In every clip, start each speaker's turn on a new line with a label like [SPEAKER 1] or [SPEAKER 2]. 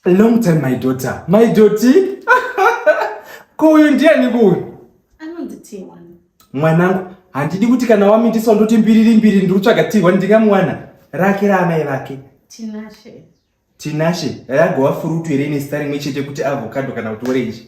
[SPEAKER 1] Long time my daughter. My daughter. Kuyu ndiye ni kuyu. Anondi tiwa.
[SPEAKER 2] Mwanangu,
[SPEAKER 1] handidi kuti kana wamitiswa ndoti mbiriri mbiri ndiri kutsvaga tiwa ndingamwana. Rake ra amai vake. Tinashe.
[SPEAKER 2] Tinashe.
[SPEAKER 1] Ragova furutu here ine sita rimwe chete kuti avocado kana kuti orange.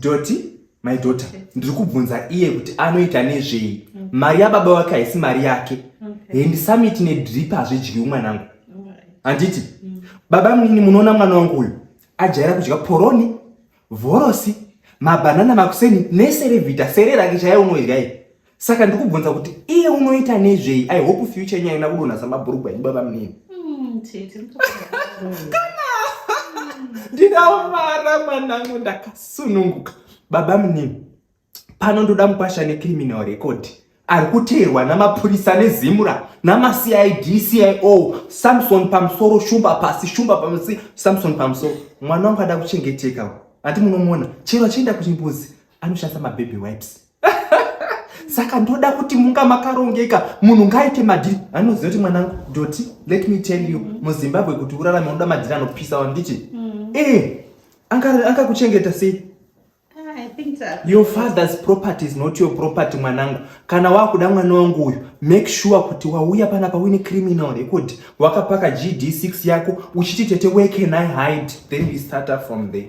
[SPEAKER 2] doti my
[SPEAKER 1] daughter ndiri kubvunza iye kuti anoita nezvei mm. mari yababa wake haisi mari yake hendisamiti nedrip hazvidyiwi mwanangu handiti mm. baba mnini munoona mwana wangu uyu ajaira kudya poroni vhorosi mabhanana makuseni neserevhita sere rake chaiye unoidya iye saka ndikubvunza kuti iye unoita nezvei i hope future yenyu aina kudonha samabhurugwa edu baba munini hmm,
[SPEAKER 2] kana
[SPEAKER 1] ndinamara mwanangu ndakasununguka baba munini pano ndoda mukwasha necriminal record ari kuteerwa namapurisa nezimura namacid cio samson pamusoro shumba pasi shumba pamusi samson pamusoro mwana wangu ada kuchengeteka ati munomona chero achienda kuchimbuzi anoshandisa mababby wipes saka ndoda kuti munga makarongeka munhu ngaaite madhiri anoziva kuti mwanangu doti let me tell you mm. muzimbabwe kuti urarame unoda madhiri anopisa wandichi mm. e eh, angakuchengeta sei
[SPEAKER 2] ah, your father's property
[SPEAKER 1] is not your property mwanangu kana wakuda mwana wangu uyu make sure kuti wauya pana pawine criminal record wakapaka gd 6 yako uchiti tete where can i hide then we start up from there